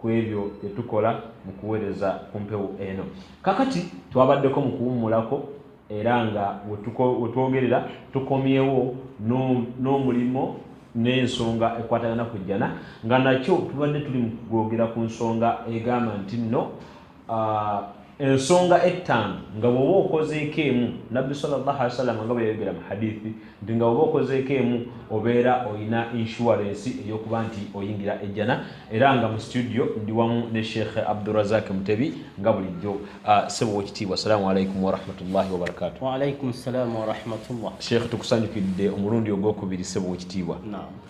ku ebyo bye tukola mu kuweereza ku mpewo eno. Kakati twabaddeko mu kuwummulako era nga we twogerera tukomyewo n'omulimu n'ensonga ekwatagana ku jjana nga nakyo tubadde tuli mu kugwogera ku nsonga egamba nti nno ah, ensonga ettaano nga bwoba okozeeko emu nabbi sawasalama nga bweyayogera mu hadithi nti nga bwoba okozeeko emu obeera olina inshuwarensi eyokuba nti oyingira ejjana era nga mu situdio ndi wamu ne sheikh abdurazak mutebi nga bulijjo ah, sebo wekitiibwa assalamu alaikum warahmatullahi wabarakatuhsheikh tukusanyukidde omulundi ogwokubiri sebo wekitiibwa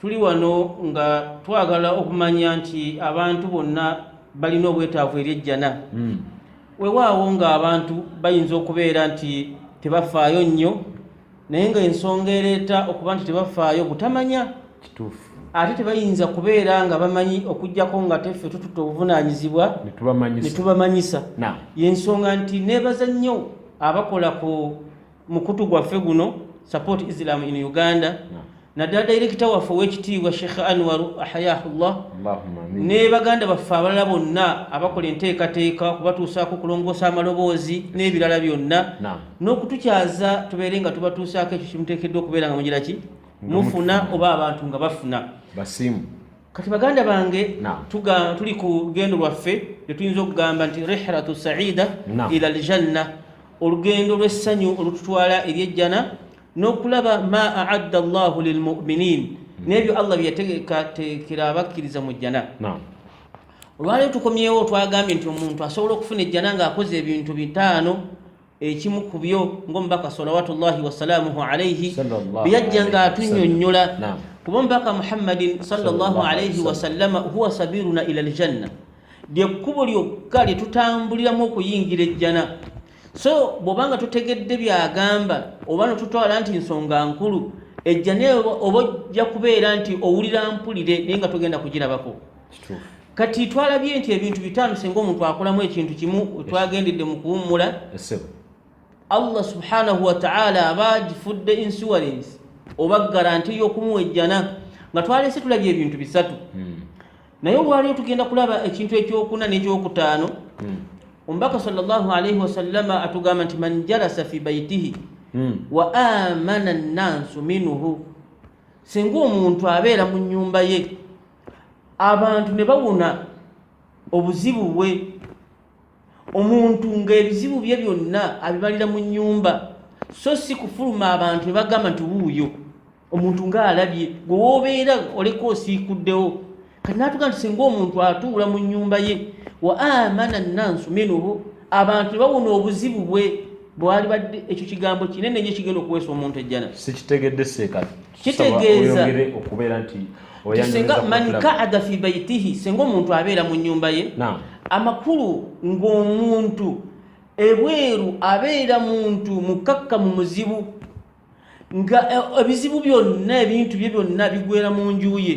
tuli wano nga twagala okumanya nti abantu bonna balina obwetaavu eri ejjana hmm. wewaawo nga abantu bayinza okubeera nti tebafaayo nnyo naye nga ensonga ereeta okuba nti tebafaayo butamanya kituufu ate tebayinza kubeera nga bamanyi okugyako nga teffe tututa obuvunanyizibwa netubamanyisa yensonga nti nebaza nnyo abakola ku mukutu gwaffe guno support islam in uganda no. naddala dayirekita waffe owekitiibwa sheikh anwar ahayahullah ne baganda baffe abalala bonna abakola enteekateeka okubatuusaako okulongoosa amaloboozi n'ebirala byonna n'okutukyaza tubeere nga tubatuusaako ekyo kimuteekeddwa okubeera nga mugira ki mufuna oba abantu nga bafuna basiimu kati baganda bange tuli ku lugendo lwaffe lwetuyinza okugamba nti rihratu saida ila aljanna olugendo lw'essanyu olututwala eri ejjana n'okulaba ma aadda llahu lilmuminin hmm. n'ebyo allah byeyateekateekera abakkiriza mu jjana olwaleero tukomyewo twagambye nti omuntu asobola okufuna ejjana ng'akoze ebintu bitaano ekimu ku byo ng'omubaka salawatullahi wasalaamuhu alaihi byeyajja nga atunyonnyola kuba omubaka muhammadin salllahu alaihi wasallama huwa sabiruna ila aljanna lyekkubo lyokka lye tutambuliramu okuyingira ejjana so bw'oba nga tutegedde byagamba oba notutwala nti nsonga nkulu ejjana oba ojja kubeera nti owulira mpulire naye nga togenda kugirabako kati twalabye nti ebintu bitaano singa omuntu akolamu ekintu kimu twagendedde mu kuwummula allah subhanahu wataala aba agifudde insurance oba garanti ey'okumuwa ejjana nga twalese tulabye ebintu bisatu hmm. naye olwaliyo tugenda kulaba ekintu ekyokuna n'ekyokutaano hmm. omubaka salllahalaihi wasallama atugamba nti man jalasa fi baitihi hmm. wa amana nnansu minhu singa omuntu abeera mu nyumba ye abantu ne bawona obuzibu bwe omuntu ng'ebizibu bye byonna abimalira mu nnyumba so si kufuluma abantu ne bagamba nti wuuyo omuntu ng'alabye gwe woobeera oleka osiikuddewo kati naatuga nti singa omuntu atuula mu nnyumba ye wa amana nansu minuhu abantu ne bawona obuzibu bwe bwalibadde ekyo kigambo kinene nyo ekigenda okuweesa omuntu ejjana sikitegedde seekati kitegeeza okubeera nti singa man kaada fi baitihi singa omuntu abeera mu nyumba ye amakulu ng'omuntu ebweru abeera muntu mukakka mu muzibu nga eh, ebizibu byonna ebintu bye byonna bigwera mu nju ye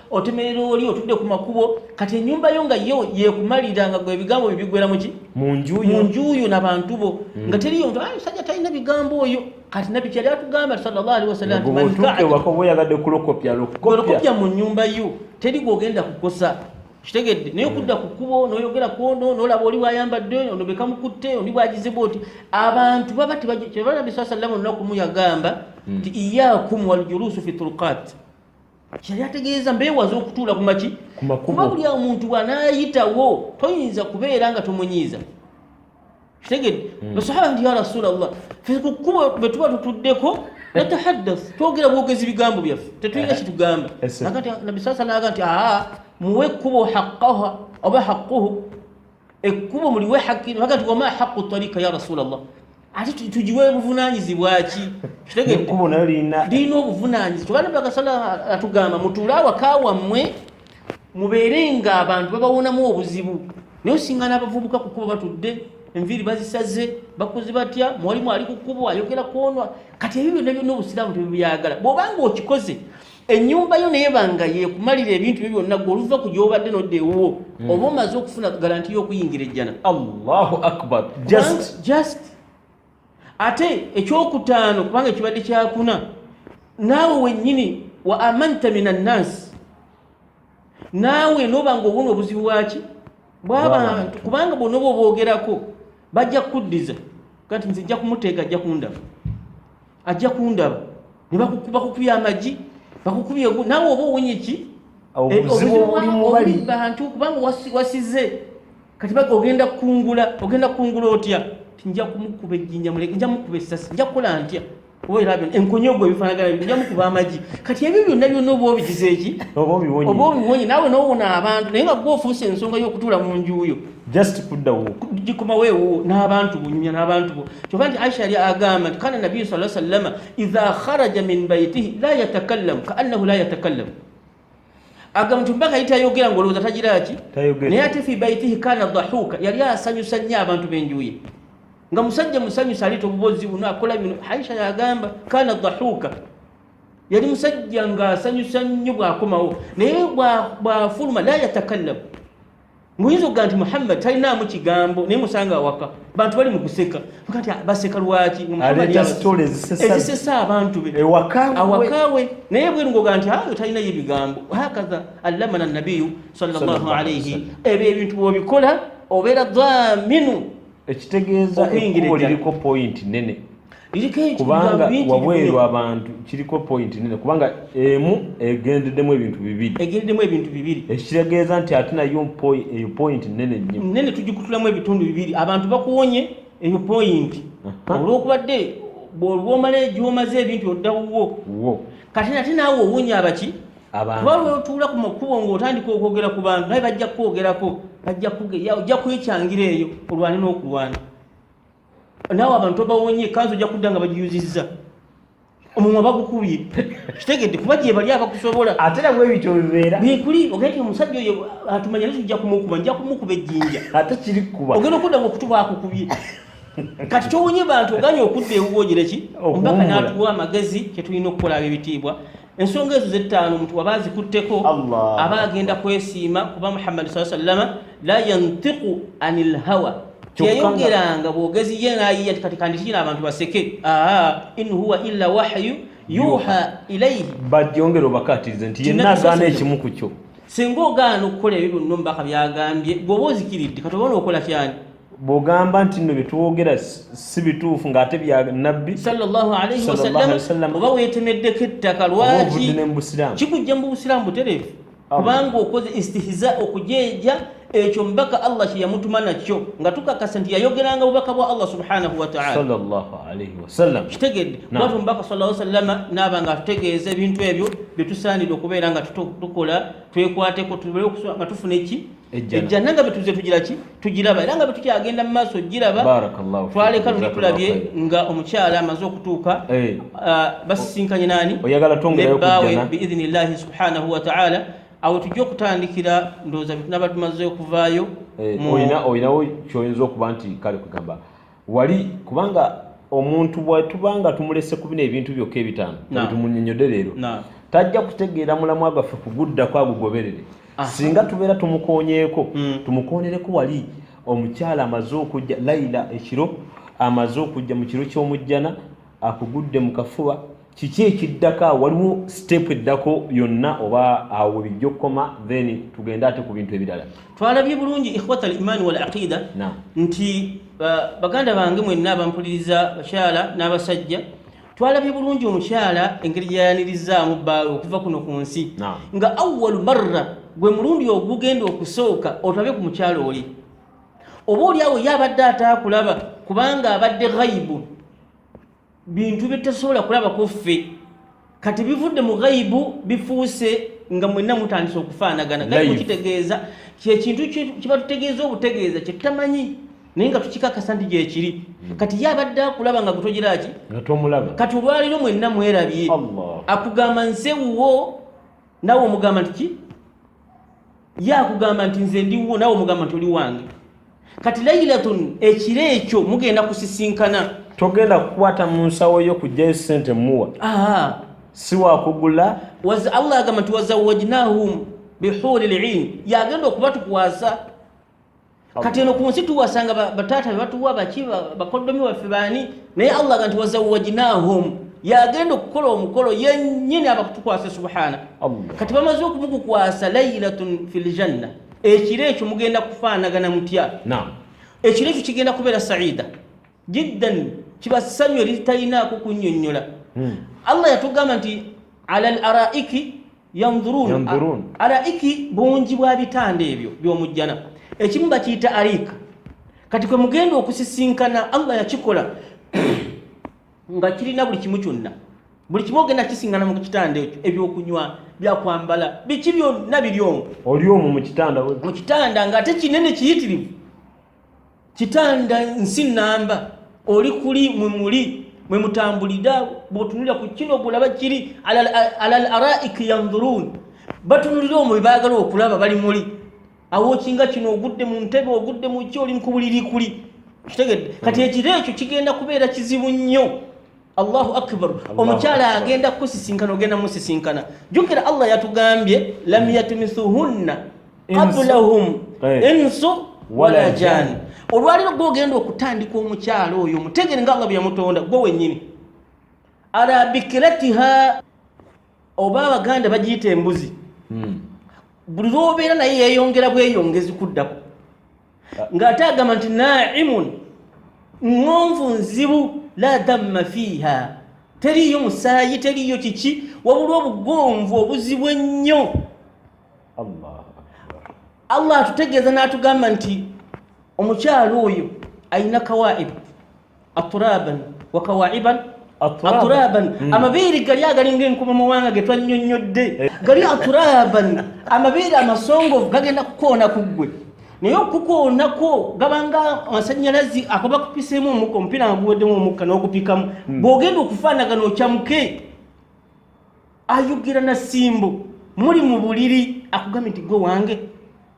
otemerera oli otudde ku makubo kati enyumba yo nga yo yekumalira nga gwe ebigambo bye bigwera muki munjuyo nabantu bo mm. nga teriyo nti ayi sajja talina bigambo oyo kati nabbi kyali atugamba sallallahu alaihi wasallamyagadde kulokopyalokopya mu nyumba yo teri gwogenda kukosa kitegedde naye mm. okudda ku kkubo noyogera kwono nolaba oli bwayambadde oyo ono bekamukutte oli bwagizibu oti abantu baba tebaa nabbi saa sallama olunaku mu yagamba mm. nti iyakum waljulusu fi turkat kyeyali ategeeza mbeewaza okutuula ku maki kuba buli omuntu bwanaayitawo toyinza kubeera nga tomunyiiza kitegede hmm. basahaba nti ya rasula llah fe ku kkubo bwe tuba tutuddeko natahaddath twogera bwogezi bigambo byaffe tetulina eh. kitugamba nabbi saa salaga nti aa muwe ekkubo haqqaha oba haqquhu ekkubo muliwe haki baga nti wama haqu tarika ya rasulllah ate tugiwe buvunanyizibwa ki kitegedlina obuvunanyizi kyobanabaga sala atugamba mutuule awaka wammwe mubeere nga abantu babawonamu obuzibu naye osinga n'abavubuka kukuba batudde enviiri bazisaze bakozi batya mwalimu ali kukubo ayogera kwonwa kati ebyo byonna byonna obusiraamu tebibyagala bwobanga okikoze ennyumba yo naye banga yekumalira ebintu byo byonna gwe oluva ku gyobadde nodda ewuwo hmm. oba omaze okufuna garanti y'okuyingira ejjana allahu akbar just just ate ekyokutaano kubanga ekibadde kyakuna naawe wennyini wa amanta min annasi naawe noba nga obona obuzibu bwaki bwabantu kubanga bona oba obwogerako bajja kukuddiza kati nze jja kumuteeka ajja kundaba ajja kundaba ne bakukuba kukuya amagi bakukubye nawe oba owonye ki bantu kubanga wasize kati ogenda kungula ogenda kungula otya tinja kumukuba ejjinja muleke nja mukuba essasi nja kukola ntya obaerabyo enkonyi ogwo ebifanagana bino nja mukuba amagi kati ebyo byonna byonna oba obigize eki oba obiwonye nawe nowona abantu naye nga gwofuusa ensonga y'okutuula mu njuuyo just kudda wo jikuma wewo n'abantu bunyumya n'abantu bo kyova nti aisha yali agamba nti kana nabiyu sala sallama idha kharaja min baitihi la yatakallamu kaannahu la yatakallamu agamba nti mbaka yitayogera ngaolowooza tagira ki naye ate fi baitihi kana dhahuka yali asanyusa nnyo abantu benjuye nga musajja musanyusa aliita obubozi buno akola bino aisha yagamba kana dhahuka yali musajja nga asanyusa nnyo bwakomawo naye bwafuluma la yatakallamu muyinza okuga nti muhammad talinaamu kigambo naye musanga awaka bantu bali mu kuseka kati ah, baseka lwaki ezisesa abantu be awakawe naye bweru ngoga nti ayo ah, talinayo ebigambo hakaha allamana nabiyu sallallahu alaihi ebyo ebintu bwobikola obeera dhaminu ekitegeeza ekkubo liriko pointi nene kubanga wabweru abantu kiriko pointi nene kubanga emu egendeddemu ebintu bibiri egendeddemu ebintu bibiri ekitegeeza nti ate nayo eyo pointi nene nnyo nene tugikutulamu ebitundu bibiri abantu bakuwonye eyo pointi olwokubadde bwolwomala egyomaze ebintu oddawuwo kati nate naawe owunya abaki kuba lwotuula ku makubo ng'otandika okwogera ku bantu naye bajja kukwogerako bajja kugeya ojja kwekyangira eyo olwane n'okulwana naawe abantu obawonye kanzi ojja kudda nga bagiyuzizza omumwa bagukubye kitegedde kuba gyebali abakusobola ate nabwe ebityo bibeera bikuli ogenda omusajja oyo atumanya naye tujja kumukuba nja kumukuba ejjinja ate kiri kukuba ogenda okudda nga okutuba akukubye kati towonye bantu oganye okudda ewuwogereki omubaka n'atuwa amagezi kyetulina okukola ab'ebitiibwa ensonga ezo zettaano omuntu waba azikutteko aba agenda kwesiima kuba muhammadi saa sallama la yantiku ani lhawa teyayogeranga bwogezi ye nayiya kati kandikina abantu baseke aa in huwa illa wahyu yuha ilaihi bajongera obakatirize nti yenna agaana ekimu ku kyo singa ogaana okukola ebyo byonna omubaka byagambye gweoba ozikiridde kati oba nookola kyani bwogamba nti no byetwogera si bituufu ngaate bya nabbi oba wetemeddeko ettaka lwaki kikujja mu busiraamu butereevu kubanga okoze istihiza okujeeja ekyo mubaka allah kyeyamutuma nakyo nga tukakasa nti yayogeranga bubaka bwa allah subhanahu wataala kitegedde watu mubaka sa salama naaba nga atutegeeza ebintu ebyo byetusaanidde okubeera nga tukola twekwateko nga tufuna eki ejjana nga betuze tugira ki tugiraba era nga betukyagenda mu maaso giraba twaleka luli tulabye nga omukyala amaze okutuuka eh. ah, basisinkanye naani nebaawe biidhini llahi subhanahu wataala awo tujja okutandikira ndowooza betunaba tumaze okuvaayo eh, olinawo kyoyinza okuba nti kale kugamba wali kubanga omuntu bwetubanga tumulese ku bino ebintu byokka ebitaano tumunyonyode leero tajja kutegeera mulamwa gwaffe kuguddako agugoberere singa tubeera tumukonyeeko hmm. tumukonereko wali omukyala amaze okujja laila ekiro amaze okujja mu kiro ky'omujjana akugudde mu kafuba kiki ekiddako waliwo siteepu eddako yonna oba awo webijja okukoma then tugende ate ku bintu ebirala twalabye bulungi ikhwata al imaani wal aqida nti baganda bange mwenna abampuliriza bakyala n'abasajja twalabye bulungi omukyala engeri gyayanirizaamu bbaawe okuva kuno ku nsi nga awalu marra gwe mulundi ogugenda okusooka otabe ku mukyala oli oba olyawo ye abadde ataakulaba kubanga abadde ghaibu bintu byetasobola kulaba kuffe kati bivudde mu ghaibu bifuuse nga mwenna mutandise okufaanagana gaibu kitegeeza kyekintu kiba tutegeeza obutegeeza kyetutamanyi naye nga tukikakasa nti gyekiri hmm. kati ye abadde akulaba nga gutogeraki kati olwaliro mwenna mwerabye akugamba nsewuwo nawe omugamba nti ki ye akugamba nti nze ndiwo nawe omugamba nti oli wange kati lailatun ekiro ekyo mugenda kusisinkana togenda kukwata mu nsawo yo kujjayo sente muwa siwakugula allah agamba nti wazawajnahum bihuri lin yagenda okubatukwasa kati eno ku nsi tuwasanga bataata bebatuwa baki bakoddomi baffe baani naye allah ga nti wazawajinahum yagenda okukola omukolo yenyini abakutukwasa subhana kati bamaze okumukukwasa lailatun fi ljanna ekiro ekyo mugenda kufaanagana mutya ekiro ekyo kigenda kubeera saida jiddan kiba ssanyu eritalinaako kunyonyola hmm. allah yatugamba nti ala l araiki yandurun araiki bungi bwa bitanda ebyo byomujjana ekimu bakiyita ariika kati kwe mugenda okusisinkana allah yakikola nga kirina buli kimu kyonna buli kimu ogenda kisingana mu kitanda ekyo ebyokunywa byakwambala biki byonna biri omu oli omu mu kitanda mu kitanda nga ate kinene kiyitirivu kitanda nsi namba oli kuli mwe muli mwe mutambulira bwotunulira ku kino bulaba kiri ala al araiki yandhurun batunulira omwe baagala okulaba bali muli awokinga kino ogudde mu ntebe ogudde mu ki oli mukubuliri kuli kitegedde kati ekiro ekyo kigenda kubeera kizibu nnyo allahu akbar omukyala agenda kukusisinkana ogenda musisinkana jukira allah yatugambye lam yatmisuhunna qablahum insu wala jani olwaliro gwogenda okutandika omukyala oyo mutegere nga allah byeyamutonda gwe wenyini ala bikiratiha oba abaganda bagiyita embuzi hmm. buli lwobeera naye yeyongera bweyongezi kuddako ng'ate agamba nti naimun ŋonvu nzibu la damma fiiha teriiyo musaayi teriiyo kiki wabula obugonvu obuzibu ennyo allah atutegeeza n'atugamba nti omukyalo oyo ayina kawaibu aturaban wakawaiban aturaban hmm. amabeere gali agalinga enkuba mawanga getwanyonyodde eh. gali aturaban amabeere amasongovu gagenda kukoona ku ggwe naye okukuonako gabanga amasanyalazi akaba kupisemu omukka omupiira nga guweddemu omukka n'okupikamu hmm. bw'ogenda okufaanagana okyamuke ayogera na simbo muli mu buliri akugambye nti gwe wange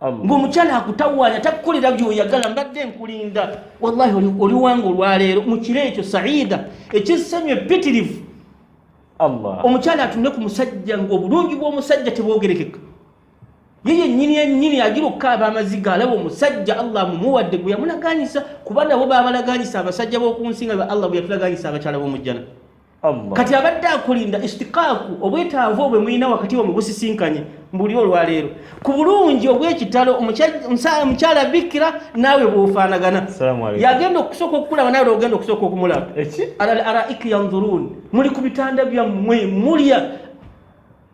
ng'omukyala akutawaanya takukolera byoyagala mbadde nkulinda wallahi oliwanga olwaleero mu kiro ekyo saida ekissanyu epitirivu omukyala atunde ku musajja ng'obulungi bw'omusajja tebwogerekeka ye yennyini yennyini agira okukaaba amaziga alaba omusajja allah mumuwadde gwe yamulaganyisa kuba nabo babalaganyisa abasajja b'oku nsi nga allah bwe yatulaganyisa abakyala b'omujjana kati abadde akulinda istikaaku obwetaavu obwe mulina wakati wa mubusisinkanye mbuli olwaleero ku bulungi obwekitalo omukyala bikira naawe bwofaanagana yagenda okusooka okukulaba nawe ogenda okusooka okumulaba alal araiki yanzurun muli ku bitanda byammwe mulya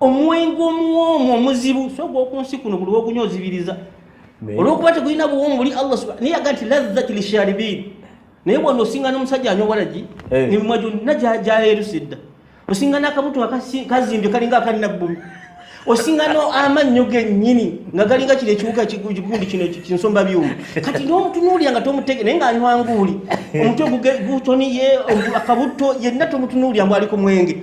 omwenge omuwoomu omuzibu so ogw'oku nsi kuno buli wogunya ozibiriza olwokuba tegulina buwoomu buli allah subhana naye yaga nti lazzati lisharibin naye bwona osinga n'omusajja anywa walagi eh. nemimwa gyonna gyayerusa edda osinga n'akabuto kazimbye kalinga akanabbumi osinga no amannyo gennyini nga galinga kino ekiwuka kigundi kino kinsomba byuma kati n'omutunuulira nga tomutege naye ng'anywa nguuli omutwe gutoniye akabutto yenna tomutunuulira mbwaliko mwenge